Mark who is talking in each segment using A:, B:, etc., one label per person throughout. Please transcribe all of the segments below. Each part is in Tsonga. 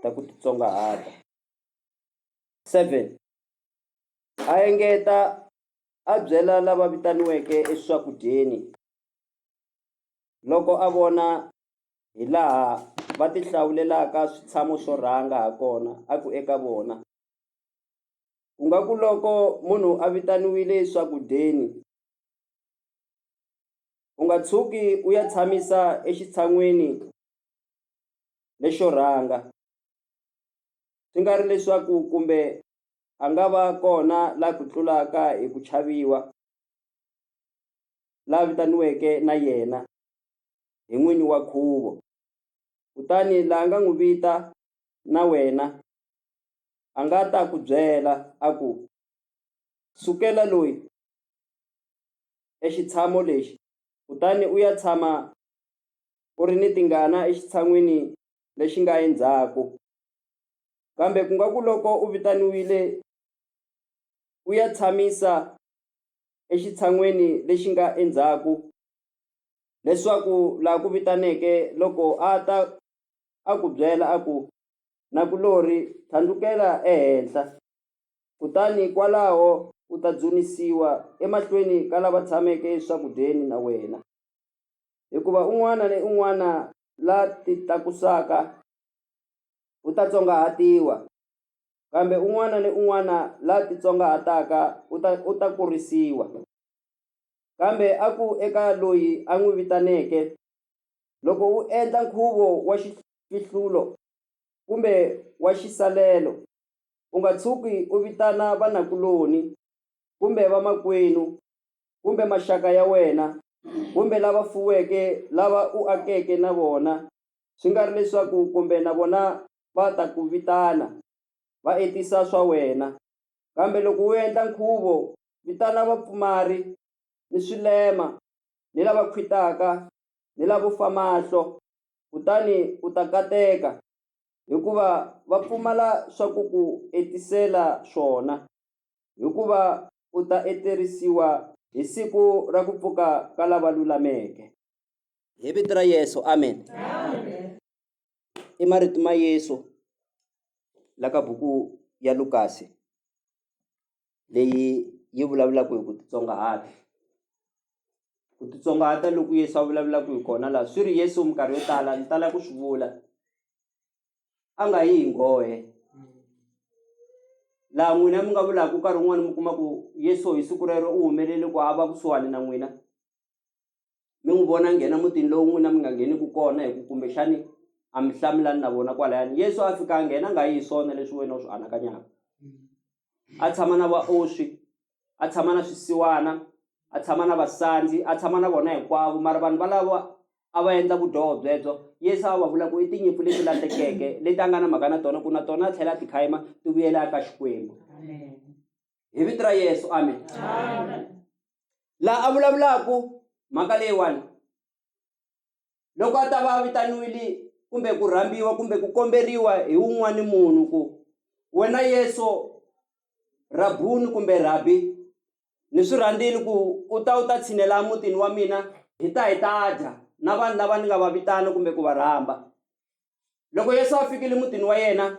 A: ta ku titsongahata. Seven, a engeta a byela lava vitaniweke eswakudyeni loko a vona hi laha va ti hlawulelaka switshamo swo rhanga ha kona a ku eka vona, ku nga ku loko munhu a vitaniwile eswakudyeni u nga tshuki u ya tshamisa exitshan'weni lexo rhanga, swi nga ri leswaku kumbe a nga va kona la ku tlulaka hi ku chaviwa, la vitaniweke na yena hi n'wini wa nkhuvo, kutani la nga n'wi vita na wena a nga ta ku byela a ku, Sukela loyi exitshamo lexi kutani u ya tshama u ri ni tingana exitshan'wini lexi nga endzhaku. Kambe ku nga ku loko u vitaniwile u ya tshamisa exitshan'wini lexi nga endzhaku leswaku laha ku vitaneke loko a ta a ku byela a ku, Nakulorhi tlhandlukela ehenhla, kutani kwalaho u ta dzunisiwa emahlweni ka lava tshameke eswakudyeni na wena. hikuva un'wana ni un'wana la titlakusaka u ta tsongahatiwa, kambe un'wana ni un'wana la titsongahataka u ta u ta kurisiwa. Kambe a ku eka loyi a n'wi vitaneke, Loko u endla nkhuvo wa xifihlulo kumbe wa xisalelo, u nga tshuki u vitana vanakuloni kumbe vamakwenu kumbe maxaka ya wena kumbe lava fuweke lava u akeke na vona, swi nga ri leswaku kumbe na vona va ta ku vitana, va etisa swa wena. Kambe loko u endla nkhuvo, vitana vapfumari, ni swilema, ni lava khwitaka, ni lavo fa mahlo, kutani u ta kateka, hikuva va pfumala swa ku ku etisela swona. hikuva u ta etleriwa hi siku ra ku pfuka ka lava lulameke. Hi vito ra Yesu, amen. I marito ma Yesu la ka buku ya Lukasi leyi yi vulavulaka hi ku titsongahata. Ku titsongahata loko Yesu a vulavulaka hi kona laha swi ri Yesu minkarhi yo tala ni tala ku swi vula a nga yi hi nghohe laha n'wina mi nga vulaka nkarhi wun'wana mi kuma ku yesu hi siku rero u humelele ku a va kusuhani na n'wina mi n'wi vona nghena mutini lowu n'wina mi nga ngheniki kona hi ku kumbexani a mi hlamulani na vona kwalayani yesu a fika a nghena a nga yi hi swona leswi wena u swi anakanyaka a tshama na vaoswi a tshama na swisiwana a tshama na vasandzi a tshama na vona hinkwavo mara vanhu valava a va endla vudyoho byebyo yesu a va vula ku i tinyimpfu leti lahlekeke leti a nga na mhaka na tona ku na tona a tlhela a tikhaima ti vuyela aka xikwembu hi vito ra yesu amen laha a vulavulaku mhaka leyiwani loko a ta va a vitaniwile kumbe ku rhambiwa kumbe ku komberiwa hi wun'wani munhu ku wena yesu rabuni kumbe rhabi ni swi rhandzile ku u ta u ta tshinela emutini wa mina hi ta hi ta dya na vanhu lava ni nga va vitana kumbe ku va rhamba loko yesu a fikile emutini wa yena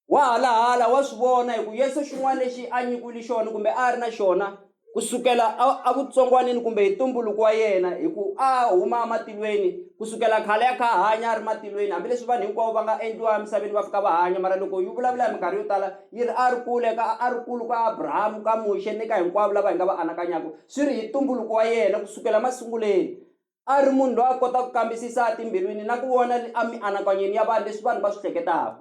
A: wa halahala wa swi vona hi ku yesu xin'wana lexi a nyikiwile xona kumbe a ri na xona ku sukela evutsongwanini kumbe hi ntumbuluko wa yena hi ku a huma ematilweni ku sukela khale ya kha hanya a ri matilweni hambileswi vanhu hinkwavo va nga endliwa emisaveni va fika va hanya mara loko yi vulavula hi minkarhi yo tala yi ri a ri kule ka a ri kulu ka abrahamu ka muxe ni ka hinkwavo lava hi nga va anakanyaka swi ri hi ntumbuluko wa yena ku sukela masunguleni a ri munhu loyi a kota ku kambisisa etimbilwini na ku vona emianakanyweni ya vanhu leswi vanhu va swi hleketaka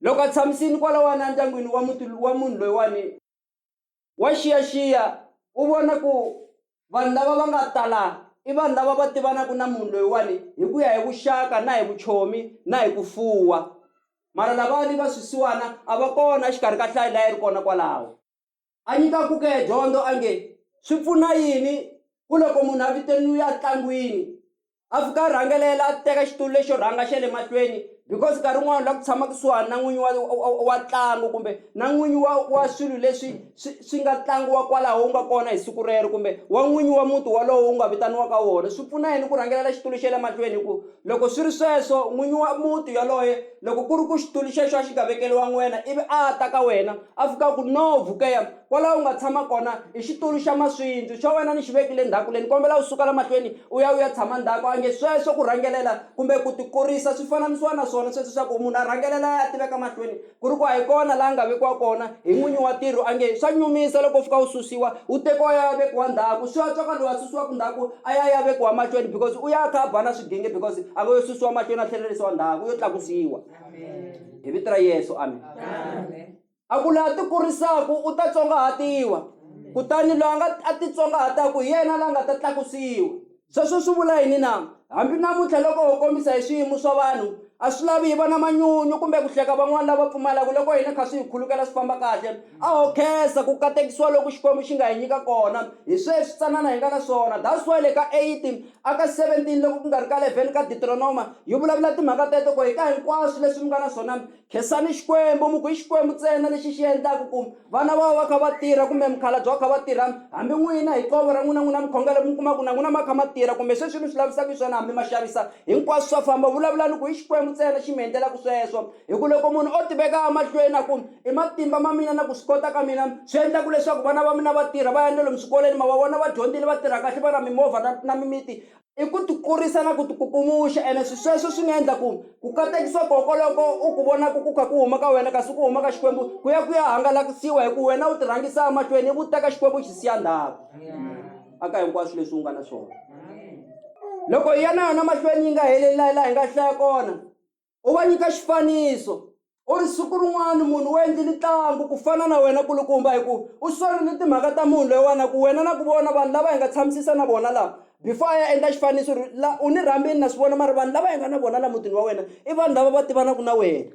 A: loko a tshamisini kwalawani endyangwini wa muti wa munhu loyiwani wa xiyaxiya u vona ku vanhu lava va nga tala i vanhu lava va tivanaka na munhu loyiwani hi ku ya hi vuxaka na hi vuchomi na hi ku fuwa mara lavani va swisiwana a va kona exikarhi ka hlayi layi ri kona kwalaho A nyika ku ke dyondo a nge, Swi pfuna yini ku loko munhu a vitaniwe entlangwini a fika a rhangelela a teka xitulu lexo rhanga xa le mahlweni because nkarhi wun'wani u lava ku tshama kusuhani na n'winyi wa wa wa ntlangu kumbe na n'winyi wa wa swilo leswi swi swi nga tlangiwa kwalaho u nga kona hi siku rero kumbe wa n'winyi wa muti wolowo u nga vitaniwaka wona swi pfuna yini ku rhangelela xitulu xa le mahlweni hi ku loko swi ri sweswo n'winyi wa muti yaloye. Loko ku ri ku xitulu xexo a xi nga vekeriwa n'wina ivi a a ta ka wena a fika a ku, No, Vukela, kwalaho u nga tshama kona i xitulu xa maswindzu, xa wena ni xi vekile ndzhaku le, ni kombela u suka la mahlweni u ya u ya tshama ndzhaku. A nge, Sweswo ku rhangelela kumbe ku tikurisa swi fananisiwa na swona sweswo swa ku munhu a rhangelela a ya a tiveka mahlweni, ku ri ku a hi kona laha a nga vekiwa kona. hi n'winyi wa tiro a nge swa nyumisa loko u fika u susiwa u tekiwa ya vekiwa ndhaku swi antswa ka loyi a susiwaka ndhaku a ya ya vekiwa mahlweni because u ya a kha a ba na swidinge because a ngo yo susiwa mahlweni a tlhelerisiwa ndhaku u yo tlakusiwa hi vito ra yesu amen a ku laha ti kurisaku u ta tsongahatiwa kutani loyi a nga a titsongahataku hi yena la nga ta tlakusiwa Sweswo swi vula yini na? Hambi namuntlha loko ho kombisa hi swiyimo swa vanhu, a swi lavi hi va na manyunyu kumbe ku hleka van'wana lava pfumalaka loko hina hi kha swi hi khulukela swi famba kahle. A ho khensa ku katekisiwa loku Xikwembu xi nga hi nyika kona hi swe switsanana hi nga na swona. That's why le ka 8 a ka 17 loko ku nga ri ka 11 ka Diteronoma yi vulavula timhaka teto ku hi ta hinkwaswo leswi mi nga na swona, Khensani Xikwembu, mi ku i Xikwembu ntsena lexi xi endlaka ku vana va va kha va tirha kumbe mukhalabye wa kha va tirha, hambi n'wina hi qovo ra n'wina n'wina mukhongelo mi kuma ku na n'wina ma kha ma tirha kumbe sweswi mi swi lavisaka xiswona hambi ma xavisa, hinkwaswo swa famba. Vulavulani ku i Xikwembu ntsena xi mi endlelaka sweswo, hi ku loko munhu o tiveka emahlweni a ku, i matimba ma mina na ku swi kota ka mina swi endlaka leswaku vana va mina va tirha va ya na lomu swikolweni ma va vona va dyondzile va tirha kahle va na mimovha na na mimiti, i ku ti kurisa na ku ti kukumuxa ene swi sweswo swi nga endla ku ku katekisa koko loko u ku vonaka ku kha ku huma ka wena kasi ku huma ka xikwembu ku ya ku ya hangalakisiwa hi ku wena u ti rhangisa emahlweni ivi u teka xikwembu xi siya ndhawu aka hinkwaswo leswi u nga na swona loko hi ya na yona mahlweni yi nga heleli layi laha hi nga hlaya kona u va nyika xifaniso u ri siku rin'wana munhu u endlile ntlangu ku fana na wena kulukumba hi ku u sorile timhaka ta munhu loyiwana ku wena na ku vona vanhu lava hi nga tshamisisa na vona laha before a ya endla xifaniso ri la u ni rhambini na swi vona mara vanhu lava hi nga na vona laha mutini wa wena i vanhu lava va tivanaka na wena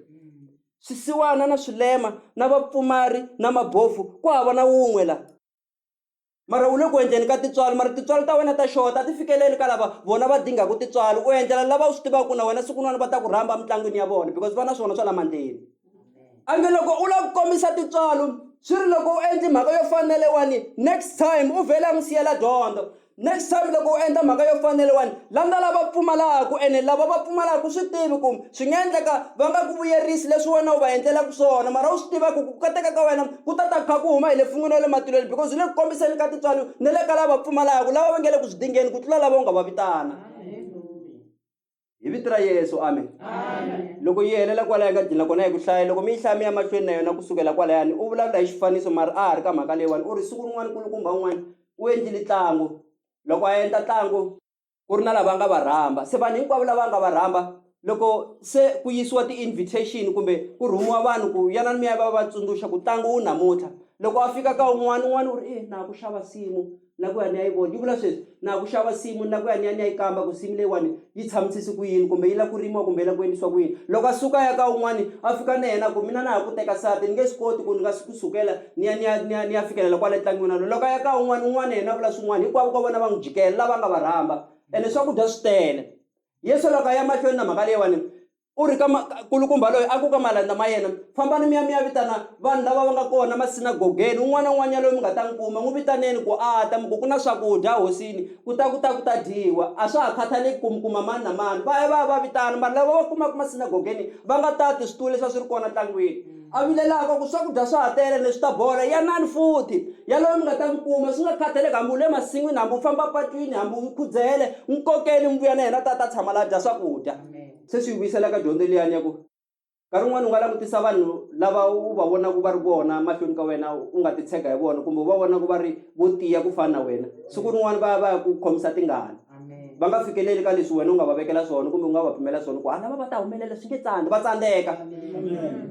A: swisiwana na swilema na vapfumari na mabofu ku hava na wun'we laha mara u le ku endleni ka tintswalo mara tintswalo ta wena ta xota a ti fikeleli ka lava vona va dingaka tintswalo u endlela lava u swi tivaka ku na wena siku n'wana va ta ku rhamba emitlangwini ya vona because va na swona swa la mandleni a nge loko u lava ku kombisa tintswalo swi ri loko u endli mhaka yo fanele wani next time u vhele a n'wi siyela dyondzo next time loko u endla mhaka yo fanele wani landza lava pfumalaka ene lava va pfumalaka swi tivi ku Swi nga endleka va nga ku vuyerisi leswi wena u va endlelaka swona mara u swi tiva ku ku kateka ka wena ku ta ta ku kha ku huma hi le fun'wini ya le matilweni because u le ku kombiseni ka tintswalo ni le ka lava pfumalaka lava va nge le ku swi dingeni ku tlula lava u nga va vitana hi vito ra yesu amen loko yi helela kwala yi nga dlina kona hi ku hlaya loko mi yi hlaya mi ya mahlweni na yona ku sukela kwalayani u vulavula hi xifaniso mara a ha ri ka mhaka leyiwani u ri siku rin'wana kulukumba un'wana u endlile ntlangu loko a endla ntlangu ku ri na lava nga va rhamba se vanhu hinkwavo lava nga va rhamba loko se ku yisiwa ti-invitation kumbe ku rhumiwa vanhu ku yana ni miya va va tsundzuxa ku tlangu wu namuntlha loko a fika ka un'wana un'wana u ri e na ku xava simu na ku ya ni ya yi vona yi vula sweswi na ku xava simu na ku ya ni ya ni ya yi kamba ku simu leyiwani yi tshamusisi ku yini kumbe yi la ku rimiwa kumbe yi la ku endlisiwa ku yini loko a suka ya ka un'wana a fika na yena ku mina na ha ku teka sati ni nge swi koti ku ni nga ku sukela ni ya ni ya ni ya ni ya fikelela kwale tlangwini walowo loko a ya ka un'wana un'wana yena vula swin'wana hinkwavo ka vona va n'wi jikela lava nga va rhamba ene swakudya swi tele yesu loko a ya mahlweni na mhaka leyiwani u ri ka kulukumba loyi a ku ka malandza ma yena fambani mi ya mi ya vitana vanhu lava va nga kona masinagogeni un'wana na un'wana yaloyi mi nga ta n'wi kuma n'wi vitaneni ku a ta mi ku ku na swakudya hosini ku ta ku ta ku ta dyiwa a swa ha khathaleki ku mi kuma mani na mani va ya va ya va vitana vanhu lava va kumaka masinagogeni va nga tati switulu leswi a swi ri kona tlangwini A vilelaka ku swakudya swa ha tele leswi ta bola, yanani futhi, yaloye mi nga ta n'wi kuma, swi nga khathaleki hambi u le masin'wini, hambi u famba patwini, hambi u khudzele, n'wi kokeni mi vuya na yena, ta ta tshama laha a dya swakudya. Se swi hi vuyisela ka dyondzo liyani ya ku nkarhi wun'wana u nga langutisa vanhu lava u va vonaka va ri vona mahlweni ka wena, u nga titshega hi vona, kumbe u va vona ku va ri vo tiya ku fana na wena, siku rin'wana va ya va ya ku khomisa tingana. va nga fikeleli ka leswi wena u nga va vekela swona kumbe u nga va pimela swona ku halava va ta humelela swi nge tsandzi va tsandzeka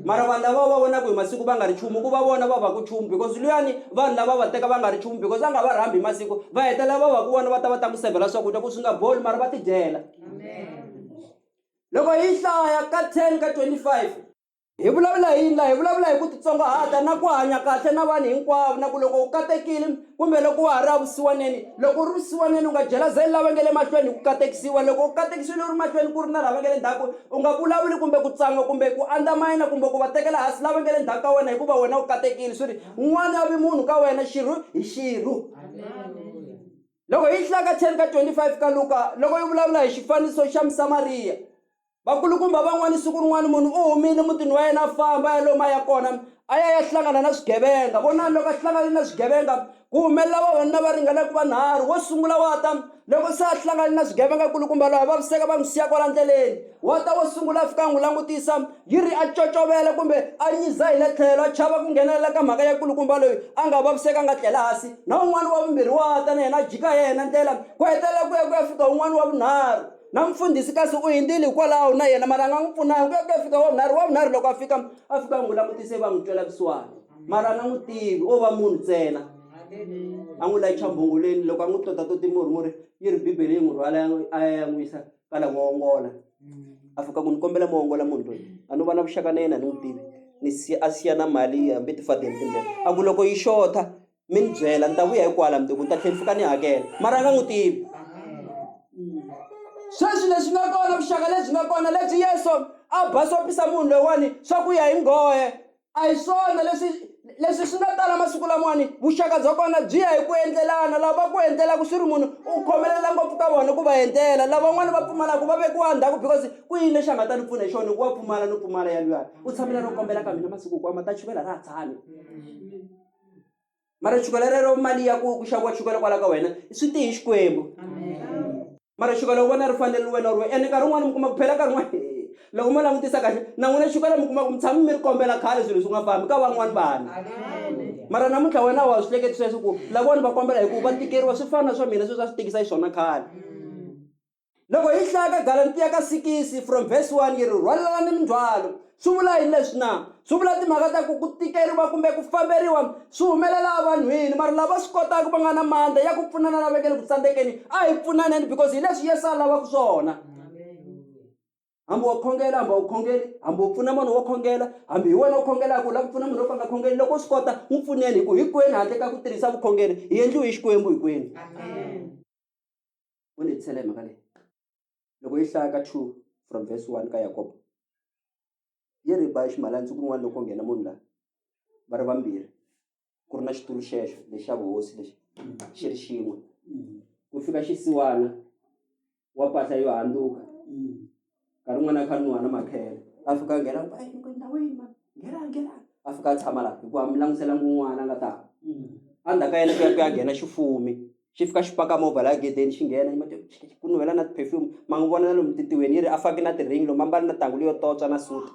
A: mara vanhu lava va vonaka hi masiku va nga ri chumu ku va vona va va ku chumu because luyani vanhu lava va teka va nga ri chumu because a nga va rhambi hi masiku va hetelela va va ku vona va ta va ta n'wi sevhela swakudya ku swi nga boli mara va tidyela loko hi hlaya ka 10 ka 25 Hi vulavula hi yini la hi vulavula hi ku titsongahata na ku hanya kahle na vanhu hinkwavo na ku loko u katekile kumbe loko wa ha ri avusiwaneni loko u ri vusiwaneni u nga jelazeli lava nge le mahlweni hi ku katekisiwa loko u katekisiwile u ri mahlweni ku ri na lava nge le ndzhaku u nga vulavuli kumbe ku tsanga kumbe ku andzamayina kumbe ku va tekela hansi lava nge le ndzhaku ka wena hikuva wena u katekile swi ri n'wana a vi munhu ka wena xirhu hi xirhu loko hi hlaka 10 ka 25 ka luka loko yi vulavula hi xifaniso xa musamariya vakulukumba van'wana siku rin'wana munhu u humile mutini wa yena a famba a ya lomu a ya kona a ya ya hlangana na swigevenga vonani loko a hlangane na swigevenga ku humelela vavanuna va ringanaka vanharhu wo sungula wa ta loko se a hlangane na swigevenga kulukumba loyi vaviseka va n'wi siya kwala ndleleni wa ta wo sungula a fika a n'wi langutisa yi ri a cocovela kumbe a nyiza hi le tlhelo a chava ku nghenelela ka mhaka ya kulukumba loyi a nga vaviseka nga tlela hansi na un'wana wa vumbirhi wa ta na yena a jika yena ndlela ku hetelela ku ya ku ya fika un'wana wa vunharhu na mfundhisi kasi u hindzile hikwalaho na yena mara a nga n'wi pfunanga ku ya ku ya fika wavunharhu wavunharhu loko a fika a fika n'wi langutise va n'wi twela kusuwani mara a nga n'wi tivi o va munhu ntsena a n'wi layicha mbhongoleni loko a n'wi tota toti murhi murhi yi ri bibele yi n'wi rhwala a ya ya n'wi yisa ka la n'wongola a fika ku ni kombela muongola munhu loyi a no va na vuxaka na yena ni n'wi tivi ni siya a siya na mali hambi tifadeni timbirhi a ku loko yi xotha mi ni byela ni ta vuya hikwala mundzuku ni ta tlhela ni fika ni hakela mara a nga n'wi tivi sweswi leswi nga kona vuxaka lebyi nga kona lebyi yesu a basopisa munhu loyiwani swa ku ya hi nghohe a hi swona leswi leswi swi nga tala masiku lamawani vuxaka bya kona byi ya hi ku endlelana lava ku endlelaka swi ri munhu u khomelela ngopfu ka vona ku va endlela lavan'wana va pfumalaka va vekiwa ndhaku because ku yini lexi a nga ta ni pfuna hi xona hikuva pfumala no pfumala ya luyani u tshamela no kombela ka mina masiku hinkwawo ma ta chuvela ra ha tshami mara chukela rero mali ya ku ku xaviwa chukela kwala ka wena swi te hi xikwembu mara chukela u vona ri fanele wena ri ene nkarhi wun'wana mi kuma ku phela nkarhi wun'wana loko mo langutisa kahle na n'wina chukela mi kuma ku mi tshami mi ri kombela khale swilo swi nga fambi ka van'wani vanhu mara namuntlha wena wa swi hleketi sweswo ku lavona va kombela hikuva va tikeriwa swi fana na swa mina sweswi a swi tikisa yi swona khale Loko hi hlaya ka Galatiya ka sikisi from verse 1 yi ri rhwalelani mindzhwalo swi vula yini leswi na swi vula timhaka ta ku ku tikeriwa kumbe ku famberiwa swi humelela evanhwini mara lava swi kotaka va nga na mandla ya ku pfunana lava nge le ku tsandzekeni a hi pfunaneni because hi leswi yesu a lavaka swona hambi wa khongela hambi a wu khongeli hambi u pfuna munhu wo khongela hambi hi wena u khongelaka u lava ku pfuna munhu wo ka nga khongeli loko u swi kota n'wi pfuneni hi ku hinkwenu handle ka ku tirhisa vukhongeri hi endliwe hi xikwembu hinkwenu u ni hetisela hi mhaka leyi loko yi hlaya ka two from verse one ka yakobo yi ri ba ximalanzi kun'wana loko nghena munhu laha va ri vambirhi ku ri na xitulu xexo lexi xa vuhosi lexi xi ri xin'we ku fika xisiwana wa pahla yo handzuka nkarhi wun'wana a kha a nwiwa na makhele a fika a nghena ku ku endhawini ma nghena nghena a fika a tshama laha hikuva mi languselanga un'wana a nga ta a ndzhaku ka yena ku ya ku ya nghena xifumi xi fika xi paka movha laha gedeni xi nghena ku nuhela na ti-perfume ma n'wi vona na lomu titiweni yi ri a faki na ti-ring lomu a mbale na thangu leyo totswa na suti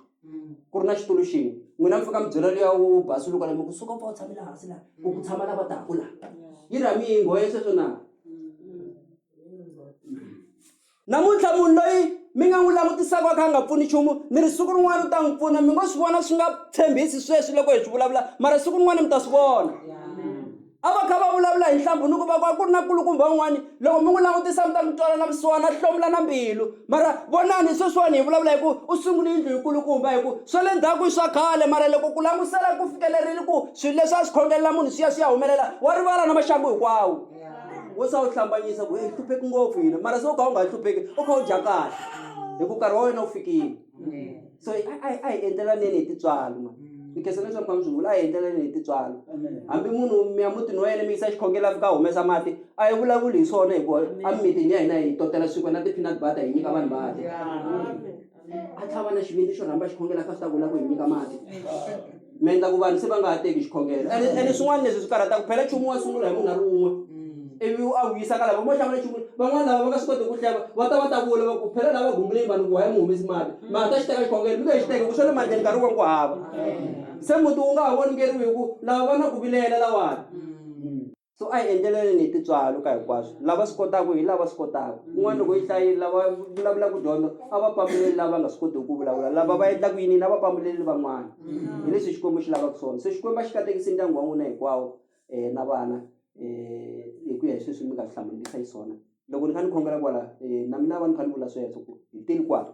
A: ku ri na xitulu xin'we n'wina mi fika mi byela luya wu basuluka lama kusuka pfa u tshamela hansi laha ku ku tshama lava taka laha yi ri a mi yi nghohe sweswo na Namuntlha munhu loyi mi nga n'wi langutisaka a kha a nga pfuni nchumu mi ri siku rin'wana u ta n'wi pfuna mi ngo swi vona swi nga tshembisi sweswi loko hi swi vulavula mara siku rin'wana mi ta swi vona a va kha va vulavula hi nhlambhu ni ku va ku a ku ri na nkulukumba un'wana loko mi n'wi langutisa mi ta mi twala na vusiwana a hlomula na mbilu mara vonani sweswiwani hi vulavula hi ku u sungule yindlu hi nkulukumba hi ku swa le ndzhaku i swa khale mara loko ku langusela ku fikelerile ku swilo leswi a swi khongelela munhu swi ya swi ya humelela wa rivala na maxangu hinkwawo wo sa wu hlambanyisa ku yi hlupheki ngopfu yini mara se u kha u nga yi hlupheki u kha u dya kahle hi ku nkarhi wa wena wu fikile so a hi endlelaneni hi titswalo ma ni khensa leswi mi kha mi swi vula a hi endlelaneni hi titswalo hambi munhu mi ya mutini wa yena mi yisa xikhongela fika humesa mati a yi vulavuli hi swona hikuva emimitini ya hina hi totela swikwe na ti-peanut butter hi nyika vanhu va dya a tlhava na xivindzi xo rhamba xikhongelo a kha swi ta vula ku hi nyika mati mi endla ku vanhu se va nga ha teki xikhongelo ene ene swin'wana leswi swi karhataka phela nchumu wa sungula hi munhu a ri un'we ivi u a vuyisa ka lava mo xavula nchumu van'wana lava va nga swi koti ku hleva va ta va ta vula va ku phela lava gumbuleni vanhu ku waya mi humesi mati mara ta xi teka xikhongelo mi nge xi teki ku swa le mandleni nkarhi wa ku hava se muti wu nga ha voningeriwi hi ku lava va na ku vilela lawani so a hi endleleleni hi tintswalo ka hinkwaswo lava swi kotaka hi lava swi kotaka un'wana loko yi hlayile lava vulavulaka dyondzo a va pambuleli lava nga swi kotiki ku vulavula lava va endlaka yinini a va pambuleli van'wana hi leswi xikwembu xi lavaka swona se xikwembu a xi katekisi ndyangu wa n'wina hinkwawo um na vana um hi ku ya hi sweswi mi nga swi hlamulisa hi swona loko ni kha ni khongela kwala um na mina va ni kha ni vula sweswo ku hi teni kwala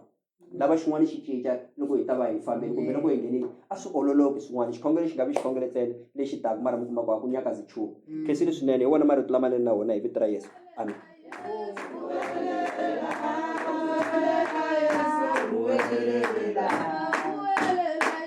A: lava xin'wana xi cinca loko hi ta va hi fambile kumbe loko hi nghenile a swi ololoki swin'wana xikhongelo xi nga vi xikhongelo ntsena lexi taka mara mi kuma ku a ku nyakazi nchumu mm. khensile swinene hi wona marito lamanene na wona hi vito ra yesu amen Thank you.